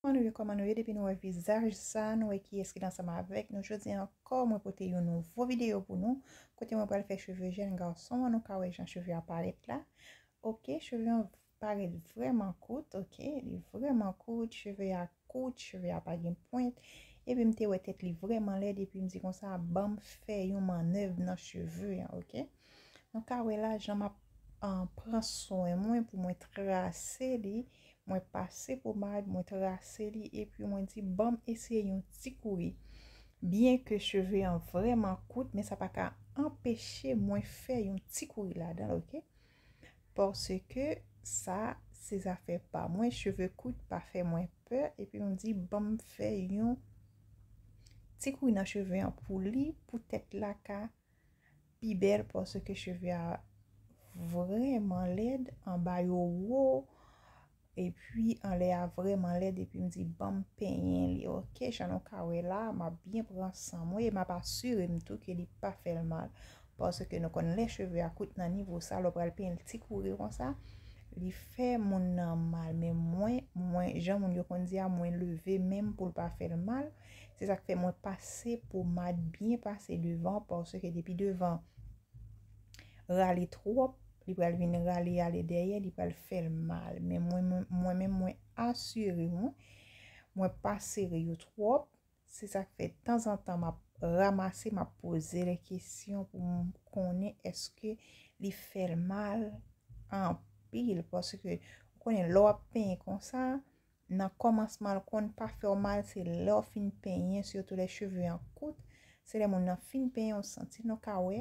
Kòman nou ye kòman nou ye depi nou wè vizaj sa nou wè kiyès ki ansanm avèk nou jodi an ankò mwen pote yon nouvo video pou nou kote mwen pral fè cheve jèn gason an nou ka wè jan cheve a parèt la ok cheve an Parèt vrèman kout ok li vrèman kout cheve a kout cheve a pa gen pwent epi m te wè tèt li vrèman lèd epi m di konsa banm fè yon mannèv nan cheve an ok nou ka wè la jan map pran swen mwen pou mwen trase li mwen pase pomad mwen trase li epi mwen di banm eseye yon ti kouri byen ke cheve an vrèman kout men sa pa ka anpeche mwen fè yon ti kouri ladan l ok. Paske sa se zafè pa mwen cheve kout pa fè mwen pè epi m di banm fè yon ti kouy nan cheve an pou li pou tèt la ka pi bèl paske cheve a vrèman lèd anba yo wo Epi anlè a vrèman lèd epi m di banm penyen li ok jan nou ka wè la map byen pran san mwen e map asire m tou ke li pa fè l mal paske nou konn lè cheve a kout nan nivo sa lè w pral penyen l ti kouri konsa li fè moun nan mal men mwen mwen jan moun yo konn di a mwen leve men m pou l pa fè l mal se sak fè mwen pase pomad byen pase devan paske depi devan rale twòp. Li pral vin rale ale dèyè li pral fèl mal men mwen mwen menm mwen asire nou mwen pa sere yo twòp se sak fè tanzantan map ramase map pozel kesyon pou m konnen eske li fèl mal anpil paske ou konnen lè wap penyen konsa Nan kòmansman l konn pa fè w mal se lè w fin penyen sitou lè cheve an kout se lè moun nan fin penyen w santi l nou ka wè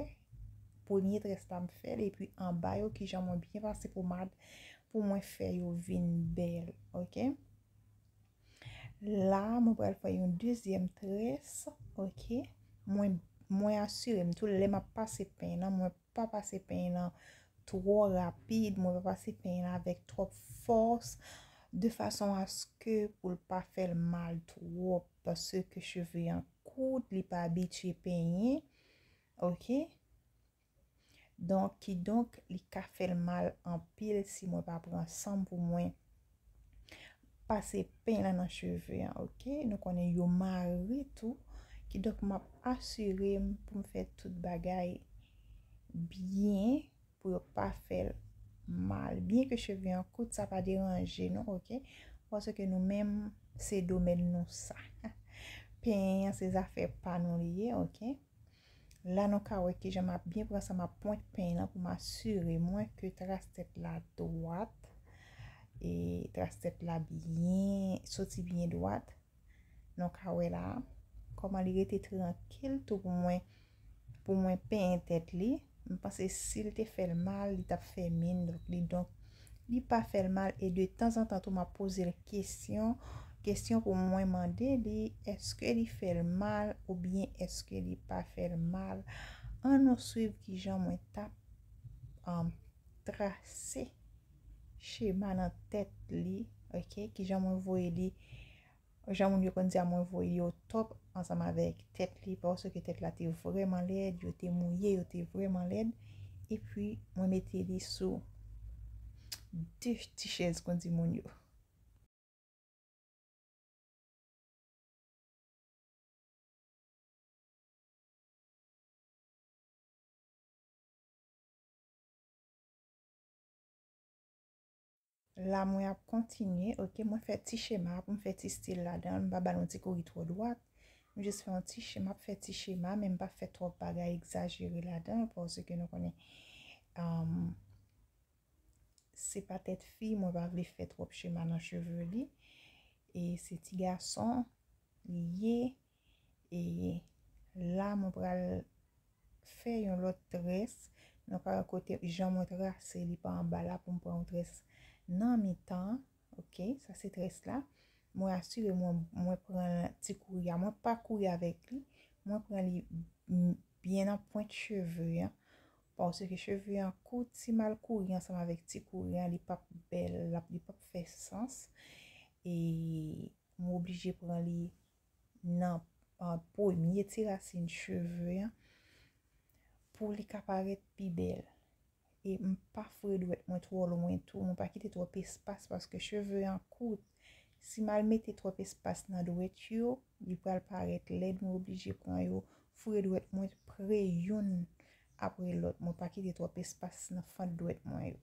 premye très la m fè l epi anba yo kijan mwen byen pase pomad pou mwen fè yo vin bèl ok la mwen pral fè yon dezyèm très ok mwen asire m tou lè m ap pase peny nan mwen pa pase peny lan twò rapid, mwen pa pase peny lan avèk twòp fòs, de fason aske pou l pa fè l mal twòp, paske cheve an kout, li pa abitye penyen, ok, donk, kidonk, li ka fè l mal anpil si mwen pa pran san m pou mwen. pase pen la nan cheve an ok nou konnen yo mare tou kidonk map asire m pou m fè tout bagay byen pou yo pa fèl mal byen ke cheve an kout sa pa deranje nou ok paske nou menm se domèn nou sa pen an se zafè pa nou li ye ok. La nou ka wè kijan map byen pran sa map pwent peny lan pou m asire mwen ke tras tèt la dwat e tras tèt la byen soti byen dwat nou ka wè la kòman li rete trankil tou pou mwen pou mwen peny tèt li m panse sil te fèl mal li tap fè min li donk Li pa fèl mal e de tanzantan tou map pozel kesyon, kesyon pou mwen mande li eske li fèl mal oubyen eske li pa fèl mal. An nou swiv kijan mwen tap trase chema nan tèt li ok kijan mwen voye li Jan moun yo konn di a mwen voye yo top ansanm avèk tèt li paske tèt la te vrèman lèd yo te mouye yo te vrèman lèd epi mwen mete li sou de ti chèz kon di moun yo. La mwen ap kontinye ok mwen fè ti chema pou m fè ti stil ladan l m pa ba l yon ti kouri twò dwat m jis fè yon ti chema m ap fè ti chema men m pa fè twòp bagay egzajere ladan l paske nou konnen se pa tèt fi mwen pa vle fè twòp chema nan cheve li e se ti gason li ye. e la mwen pral fè yon lòt tres nan ka kote jan mwen trase li pa anba la poum pran yon tres nan mitan ok sa se tres la mwen asire mwen mwen pran ti kouri a mwen pa kouri avèk li mwen pran li byen nan pwent cheve an paske ke cheve an kout si mal kouri ansanm avèk ti kouri an li pap bèl li pap fè sans e mwen oblije pran li nan premye ti rasin cheve an pou li ka parèt pi bèl e m pa foure dwèt mwen twò lwen tou mwen pa kite twòp espas paske cheve an kout si m al mete twòp espas nan dwèt yo li pral parèt lèd mwen oblije pran yo foure dwèt mwen pre youn apre lòt mwen pa kite twòp espas nan fant dwèt mwen yo.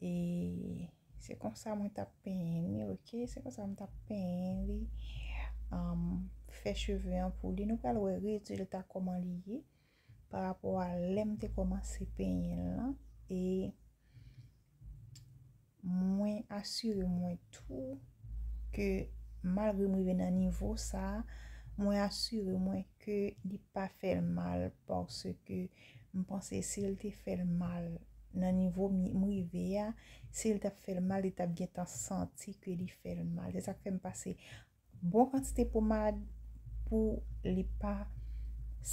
E se konsa mwen tap penyen li ok se konsa mwen tap penyen li um fè cheve an pou li nou pral wè rezilta koman li ye pa rapò a lèm te komanse penyen l lan e mwen asire mwen tou ke malgre m rive nan nivo sa mwen asire mwen ke li pa fèl mal paske M panse si l te fè l mal nan nivo m rive a, si l t ap fè l mal, li t ap gentan santi ke li fè l mal. Se sa k fè m pase bon kantite pomad pou li pa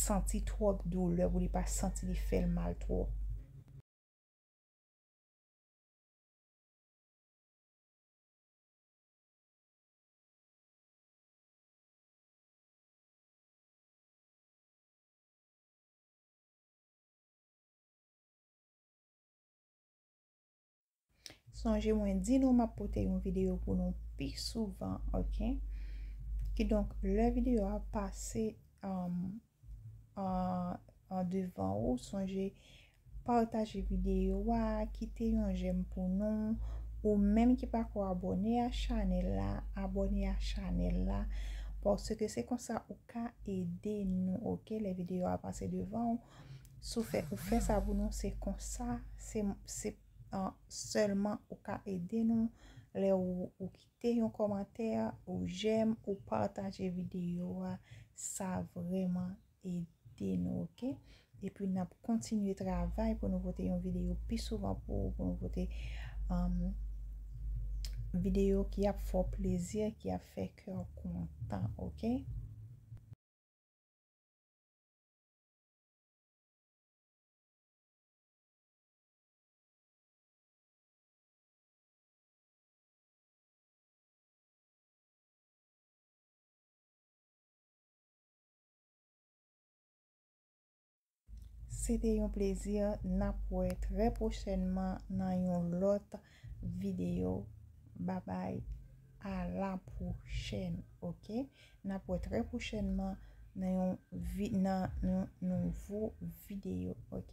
santi twòp doulè, pou li pa santi li fè l mal twòp. Sonje mwen di nou map pote yon video pou nou pi souvan ok. Ki donk lè video a pase an devan ou sonje Pataje video a, kite yon jèm pou nou, ou menm ki pako abòne a chanèl la, abòne a chanèl la, paske se konsa ou ka ede nou ok, lè video a pase devan ou, si ou fè ou fè sa pou nou se konsa, se se sèlman ou ka ede nou, lè ou kite yon kòmantè, ou jèm, ou pataje video a, sa vrèman ede nou ok epi nap kontinye travay pou nou pote yon video pi souvan pou ou pou nou pote video ki ap fè w plezi ki ap fè kè w kontan ok. Se te yon plezi nap wè trè pwochènman nan yon lòt video babay a la pwochèn ok nap wè trè pwochènman nan yon nan yon nouvo video ok.